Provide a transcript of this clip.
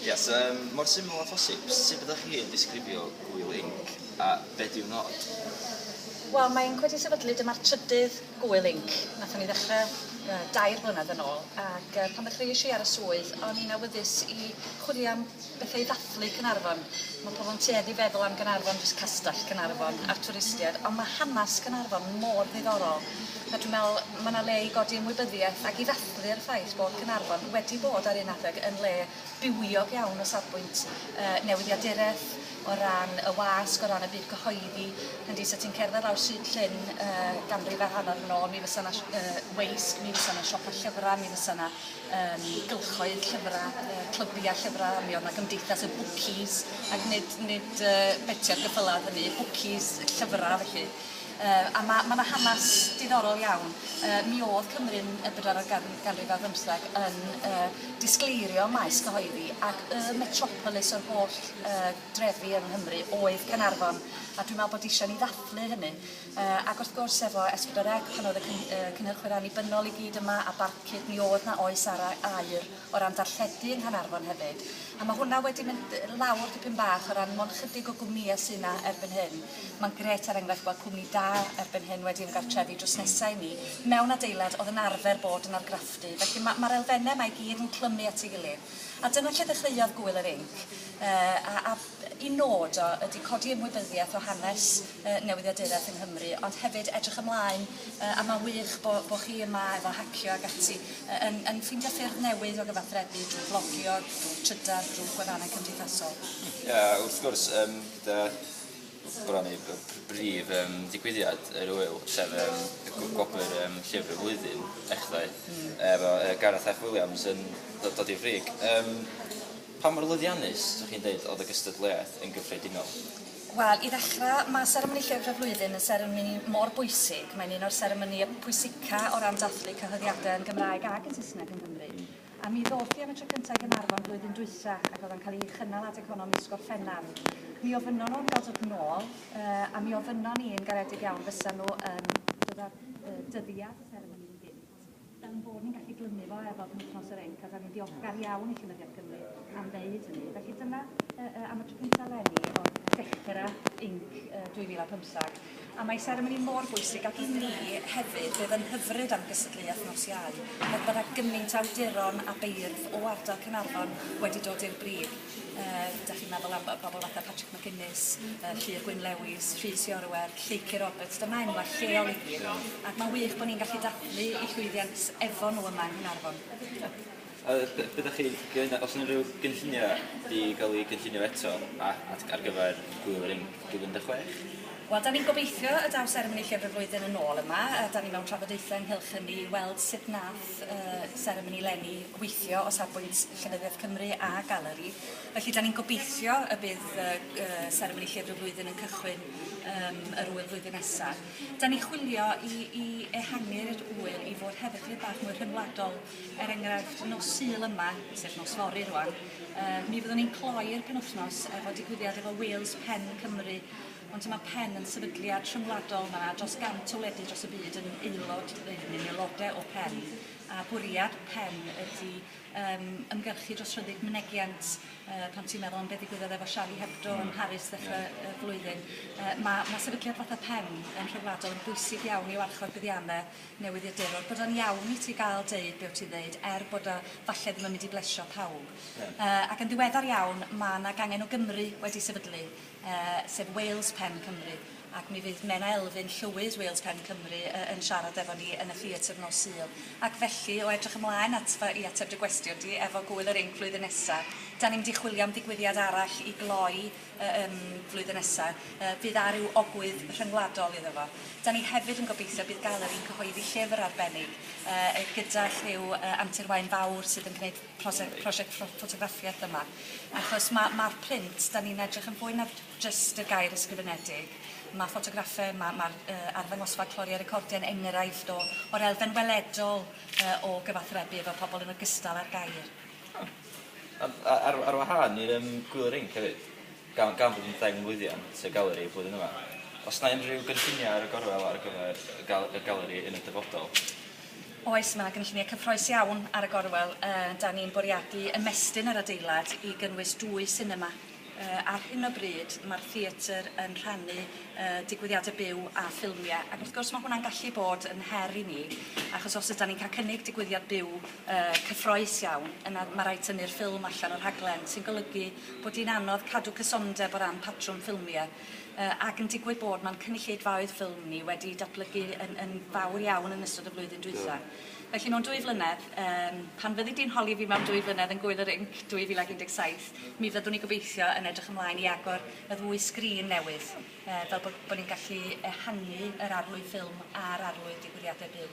Yes, um, mor syml a phosib, sut byddwch chi yn disgrifio gwyl inc a beth yw nod? Wel, mae'n gwedi sefydlu, dyma'r trydydd gwyl inc. Nathon ni ddechrau uh, dair blynedd yn ôl, ac uh, pan ddechreuais i ar y swydd, o'n i'n awyddus i chwilio am bethau i ddathlu Cynarfon. Mae pobl yn tueddu feddwl am Gynarfon, jyst castell Cynarfon a'r twristiaid, ond mae hanes Cynarfon mor ddiddorol. A dwi'n meddwl, mae yna le i godi ymwybyddiaeth ac i ddathlu Casglu'r ffaith bod Caernarfon wedi bod ar un adeg yn le bywiog iawn o safbwynt yy newyddiaduraeth, o ran y wasg, o ran y byd cyhoeddi, hyndy, sa ti'n cerdded lawr Stryd Llŷn yy ganrif a hanner yn ôl mi fysa 'na yy weisg, mi fysa 'na siopa llyfrau, mi fysa 'na yym gylchoedd llyfrau, yy clybiau llyfrau, mi oedd 'na gymdeithas y bwcis, ac nid nid yy beti ar geffylau oedd hynny, bwcis llyfrau felly. Yy a ma' ma' 'na hanas diddorol iawn yy mi o'dd Cymru yn y bedwaredd gan- ganrif ar bymtheg yn yy disgleirio maes cyhoeddi ac y metropolis o'r holl yy drefi yng Nghymru oedd Canarfon a dwi me'wl bod isio ni ddathlu hynny yy ac wrth gwrs efo Es Pedwar Ec pan o'dd y cyn- yy cynhyrchwyr annibynnol i gyd yma a Barcud mi o'dd 'na oes ara' aur o ran darlledu yng Nghanarfon hefyd, a ma' hwnna wedi mynd yy lawr dipyn bach o ran mond chydig o gwmnïe sy' 'na erbyn hyn. Ma'n grêt er enghraifft gweld cwmni da erbyn hyn wedi ymgartrefu drws nesa i ni mewn adeilad o'dd yn arfer bod yn argraffu, felly ma' ma'r elfenne 'ma i gyd yn clymu at ei gilydd. A dyna lle ddechreuodd Gŵyl yr Inc yy a a Y nod o ydi codi ymwybyddiaeth o hanes yy newyddiaduraeth yng Nghymru ond hefyd edrych ymlaen yy a ma'n wych bo' bo' chi yma efo Hacio ag ati yy yn yn ffeindio ffyrdd newydd o gyfathrebu drwy flogio, drwy trydar, drwy gwefannau cymdeithasol. Ia wrth gwrs yym gyda bron a bod y pr- brif yym digwyddiad yr ŵyl sef yym y gw- gwobr yym llyfr y flwyddyn ddechrau efo yy Gareth Eff Williams yn do- dod i'r frig yym Pa mor lwyddiannus, 'sech chi'n deud, oedd y gystadleuaeth yn gyffredinol? Wel, i ddechrau, mae seremoni Lleu'r Dref Flwyddyn yn seremoni mor bwysig. Mae'n un o'r seremonïau pwysica o ran dathlu cyhoeddiadau yn Gymraeg ac yn Saesneg yng Nghymru. A mi ddoth hi am y tro cyntaf i Gaernarfon flwyddyn dwytha, ac oedd o'n cael ei chynnal adeg honno mis Gorffennaf. Mi ofynnon nhw am gael dod nôl, a mi ofynnon ni yn garedig iawn fysan nhw yn dod â'r dyddiad y seremoni i gyd. Fel ein bod ni'n gallu glymu fo ar bob wythnos yr Inc a dan ni'n ddiolchgar iawn i Llenyddiaeth Gymru am ddeud hynny. Felly dyna yy am y tro cyntaf leni o ddechrau Inc 2015 a mae seremoni mor bwysig ac i mi hefyd fe fy nghyfryd am gystadleuaeth nos Iau, heb fod â gymaint o awduron a beirdd o ardal Caernarfon wedi dod i'r brif. Yy, 'dach chi'n meddwl am yy bobol fatha Patrick McGuinness, yy Llŷr Gwyn Lewis, Rhys Iorwerth, Lleucu Roberts, dyma enwa' lleol i ni, ac ma'n wych bo' ni'n gallu dathlu 'u llwyddiant efo nw yma yng Nghaernarfon. A be' be' 'dach chi gen- o's 'na unryw gynllunia' 'di ga'l 'u cynllunio eto a- at ar gyfer Gŵyl y Rinc dwy fil un deg chwech? Wel 'dan ni'n gobeithio y daw seremoni Llyfr y Flwyddyn yn ôl yma a 'dan ni mewn trafodaethe ynghylch hynny i weld sut nath Wnaeth y seremoni lenni weithio o safbwynt Llenyddiaeth Cymru a Galeri, felly dan ni'n gobeithio y bydd y y seremoni Llyfr y Flwyddyn yn cychwyn yym yr ŵyl flwyddyn nesa'. Dan ni'n chwilio i i ehangu'r ŵyl i fod hefyd dipyn bach mwy rhyngwladol, er enghraifft nos Sul yma, sef nos fory rŵan, yy mi fyddwn ni'n cloi'r penwythnos efo digwyddiad efo Wales Pen Cymru, Ond mae pen yn sefydliad rhyngwladol, mae yna dros 100 o wledydd dros y byd yn aelod, neu yn aelodau o pen, a bwriad pen ydy um, ymgyrchu dros rhyddid mynegiant, uh, pan ti'n meddwl am beth ddigwyddodd efo Charlie Hebdo mm. yn hmm. Paris ddechrau yeah. Hmm. y flwyddyn. Uh, mae, mae sefydliad fatha pen yn rhyngwladol yn bwysig iawn i warchod buddiannau newyddiadurwr, bod o'n iawn i ti gael deud beth ti'n ddeud, er bod o falle ddim yn mynd i blesio pawb. Yeah. Uh, ac yn ddiweddar iawn, mae yna gangen o Gymru wedi sefydlu sef Wales Pen Cymru, ac mi fydd Menna Elfyn, Llywydd Wales Pen Cymru, yn siarad efo ni yn y theatr nos Sul. Ac felly, o edrych ymlaen at fy i ateb dy gwestiwn di efo Gŵyl yr Inc flwyddyn nesa, dan ni'n mynd i chwilio am ddigwyddiad arall i gloi y ym flwyddyn nesa, fydd â rhyw ogwydd rhyngwladol iddo fo. Dan ni hefyd yn gobeithio bydd Galeri'n cyhoeddi llyfr arbennig gyda rhyw antur waun fawr sydd yn gneud prosiect prosiect ffotograffiaeth yma achos ma' ma'r print 'dan ni'n edrych yn fwy na jyst y gair ysgrifenedig ma' ffotograffe ma' ma'r yy arddangosfa Cloria Recordia yn enghraifft o o'r elfen weledol yy o gyfathrebu efo pobol yn ogystal â'r gair. O. Ond a- ar ar wahân i'r yym gwylie rinc hefyd? Gan fod yn ddeng lwyddiant y Galeri flwyddyn yma, oes 'na unrhyw gynlluniau ar y gorwel ar gyfer y Galeri yn y dyfodol? Oes, mae 'na gynlluniau cyffrous iawn ar y gorwel. Dan ni'n bwriadu ymestyn yr adeilad i gynnwys dwy sinema. Ar hyn o bryd mae'r theatr yn rhannu digwyddiadau byw a ffilmiau ac wrth gwrs mae hwnna'n gallu bod yn her i ni achos os ydan ni'n cael cynnig digwyddiad byw cyffrous iawn yna mae'n rhaid tynnu'r ffilm allan o'r rhaglen sy'n golygu bod hi'n anodd cadw cysondeb o ran patrwm ffilmie, ac yn digwydd bod ma'n cynulleidfaoedd ffilm ni wedi datblygu yn yn fawr iawn yn ystod y flwyddyn dwytha. Felly mewn dwy flynedd, yym pan fyddi di'n holi fi mewn dwy flynedd yn Gŵyl yr Inc 2017, mi fyddwn ni gobeithio yn edrych ymlaen i agor y ddwy sgrin newydd, fel bod bod ni'n gallu ehangu yr arlwy ffilm a'r arlwy digwyddiadau byw.